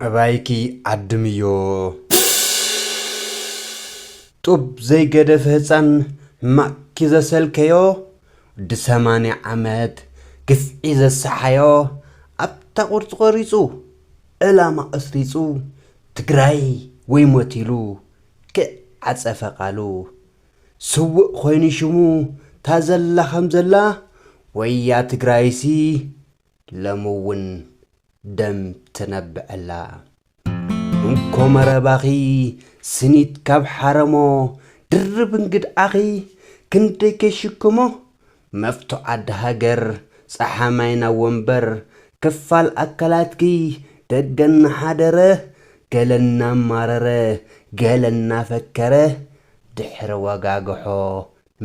ኣባይኪ ዓድምዮ ጡብ ዘይገደፈ ህጻን ማቅኪ ዘሰልከዮ ወዲ ሰማንያ ዓመት ግፍዒ ዘሳሓዮ ኣብታ ቁርጺ ቆሪጹ ዕላማ ቀስሪጹ ትግራይ ወይ ሞት ኢሉ ክእ ዓጸፈ ቃሉ ስውእ ኮይኑ ሽሙ ታዘላ ከምዘላ ወያ ትግራይሲ ለምውን ደም ትነብዐላ። እንኮ መረባኺ ስኒት ካብ ሓረሞ ድርብ እንግድዓኺ ክንደይ ከይሽክሞ መፍቶ ዓዲ ሃገር ጸሓ ማይና ወንበር ክፋል ኣካላትኪ ደገ እናሓደረ ገለ እናማረረ ገለ እናፈከረ ድሕሪ ወጋግሖ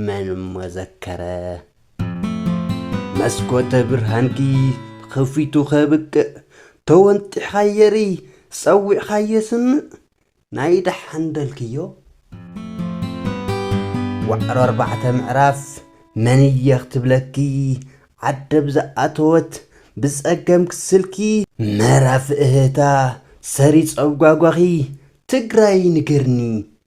መን እሞ ዘከረ መስኮተ ብርሃንኪ ኸፊቱ ኸብቅዕ ተወንጢሕኻ የርኢ ጸዊዕኻ የስምዕ ናይ ደሓን በልክዮ ዋዕሮ ኣርባዕተ ምዕራፍ መን እየ ክትብለኪ ዓደብ ዝኣተወት ብጸገም ክስልኪ ምዕራፍ እህህታ ሰሪጸ ጓጓኺ ትግራይ ንገርኒ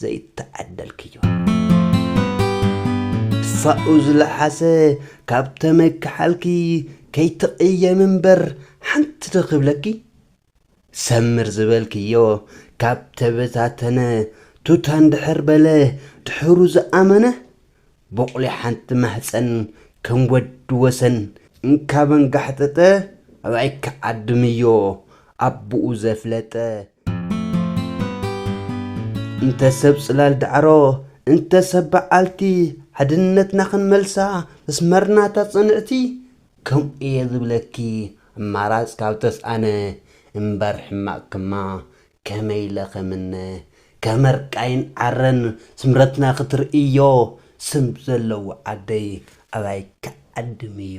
ዘይተዓደልክዮ። ትፋኡ ዝለሓሰ ካብ ተመክሓልኪ ከይትቕየሚ እምበር ሓንቲ ዶ ክብለኪ ሰምር ዝበልክዮ ካብ ተበታተነ ቱታ እንድሕር በለ ድሑሩ ዝኣመነ ቦቕሊ ሓንቲ ማህጸን ከም ወዲ ወሰን እንካብ ኣንጋሕጠጠ ኣብኣይ ክዓድምዮ ኣቡኡ ዘፍለጠ እንተ ሰብ ጽላል ዳዕሮ እንተ ሰብ በዓልቲ ሓድነትና ክንመልሳ መስመርናታ ጽንዕቲ ከምኡየ ዝብለኪ ኣማራጽ ካብ ተስኣነ እምበር ሕማቕ ክማ ከመይ ኢለ ከምነ ከመርቃይን ዓረን ስምረትና ክትርእዮ ስም ዘለዎ ዓደይ ኣባይ ክዓድም እዩ።